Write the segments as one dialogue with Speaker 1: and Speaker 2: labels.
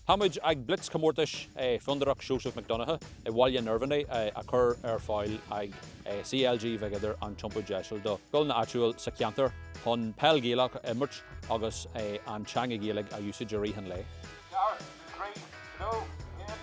Speaker 1: Tá muid ag blitz comórtais Fondúireacht Joseph McDonagh i mBaile an Irbhinigh a chur ar fáil ag CLG Mhig Uidhir an Iompú Deiseal do scoileanna áitiúil sa cheantar chun peil Ghaelach a imirt agus an teanga Ghaeilge a úsáid i rith an lae. Start, Three, Two, One.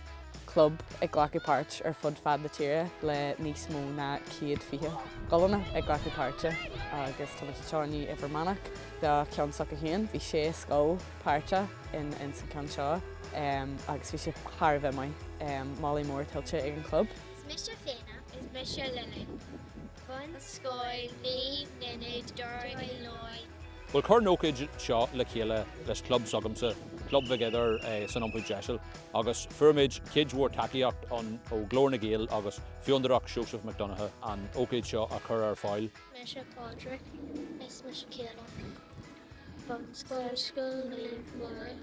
Speaker 2: club ag glacadh páirt ar fud fad na tíre le níos mó ná céad fiche gclubanna ag glacadh páirt agus tá muid anseo inniu i bhFear Manach do cheann s'acu féin. Bhí sé scoil páirteach in ins an ceann seo agus bhí sé thar a bheith maith. Moladh mór tuillte ag an chlub. Is mise Feena.
Speaker 3: Is mise Lillian. Bunscoil Naomh Ninid, Doire Uí Lúing. Bhuel, chuir
Speaker 1: an ócáid seo le chéile leis an club s'agamsa, Club Mhig Uidhir san Iompú Deiseal, agus fuair muid cuid mhór tacaíocht ó Ghlór na nGael agus Fondúireacht Joseph McDonagh an ócáid seo a chur ar fáil. Mise Pádraig. Is mise
Speaker 3: Caolan. Bunscoil Scoil Naomh Mhuire.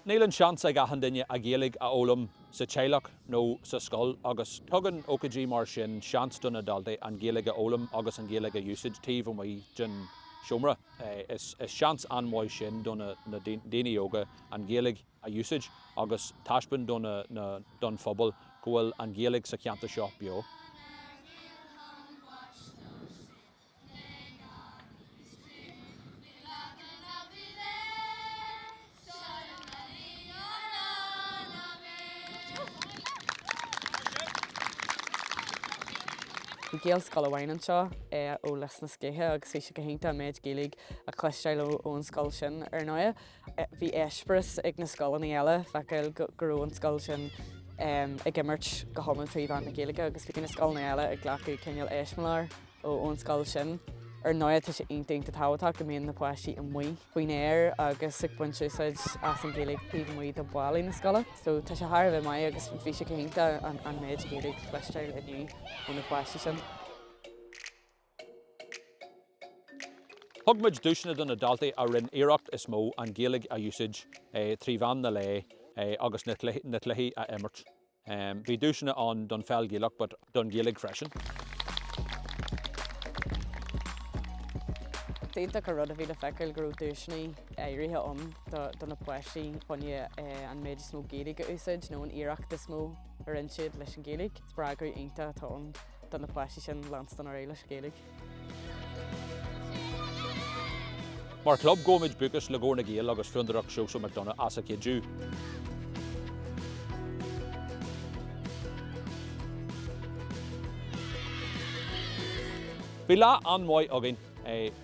Speaker 1: Níl an seans ag achan duine an Ghaeilge a fhoghlaim sa teaghlach nó sa scoil agus tugann ócáidí mar sin seans do na daltaí an Ghaeilge a fhoghlaim agus an Ghaeilge a úsáid taobh amuigh den seomra. Is seans an-mhaith sin do na daoine óga an Ghaeilge a úsáid agus taispeáint do na don phobal go bhfuil an Ghaeilge sa cheantar seo beo.
Speaker 2: Bhí Gaelscoil amháin anseo, é ó Lios na Scéithe agus bhí sé go hiontach an méid Gaeilge a chloisteáil ón scoil sin ar ndóigh. Bhí eispéireas ag na scoileanna eile feiceáil go raibh an scoil sin ag imirt go hiomlán trí mheán na Gaeilge agus bhí na scoileanna eile ag glacadh cineál eiseamláir. ón scoil sin. Ar ndóigh, tá sé iontach iontach tábhachtach go mbíonn na páistí amuigh faoin aer agus ag baint úsáid as an Ghaeilge taobh amuigh de bhallaí na scoile. So tá sé thar a bheith maith agus bhí sé go hiontach an an méid Gaeilge a chloisteáil inniu ó na páistí
Speaker 1: sin. Thug muid duaiseanna do na daltaí a rinn iarracht is mó an Ghaeilge a úsáid trí mheán an lae agus na cluichí a imirt. Bhí duaiseanna ann don pheil Ghaelach but don Ghaeilge
Speaker 2: freisin. B'iontach an rud a bhí le feiceáil go raibh duaiseanna áirithe ann do na páistí chun an méid is mó Gaeilge a úsáid nó an iarracht is mó a rinne siad leis an Ghaeilge. Spreagadh iontach atá ann do na páistí sin leanstan ar aghaidh leis an Ghaeilge.
Speaker 1: Mar club, gabhaimid buíochas le Glór na nGael agus Fondúireacht Sheosaimh Mhic Dhonncha as a cuidiú. Bhí lá an-mhaith againn.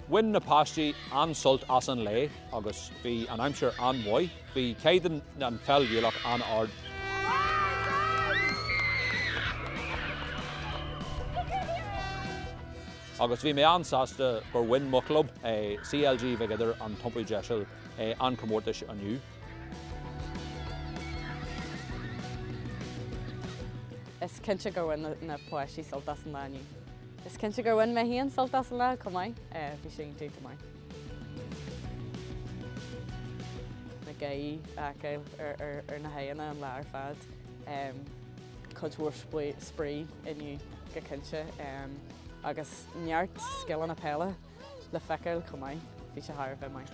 Speaker 1: Bhain na páistí an-sult as an lae agus bhí an aimsir an-mhaith. Bhí caighdeán an pheil Ghaelach an-ard. Agus bhí mé an-sásta gur bhain mo chlub, CLG Mhig Uidhir, an Iompú Deiseal, an comórtais inniu. Is
Speaker 2: cinnte gur bhain na páistí sult as an lá inniu. Is cinnte gur bhain mé féin sult as an lá chomh maith. Bhí sé iontach go maith. na gáirí a fheiceáil ar na haghaidheanna an lá ar fad. Cuid mhór spraoi inniu go cinnte agus neart scileanna peile le feiceáil chomh maith, bhí sé thar a bheith maith.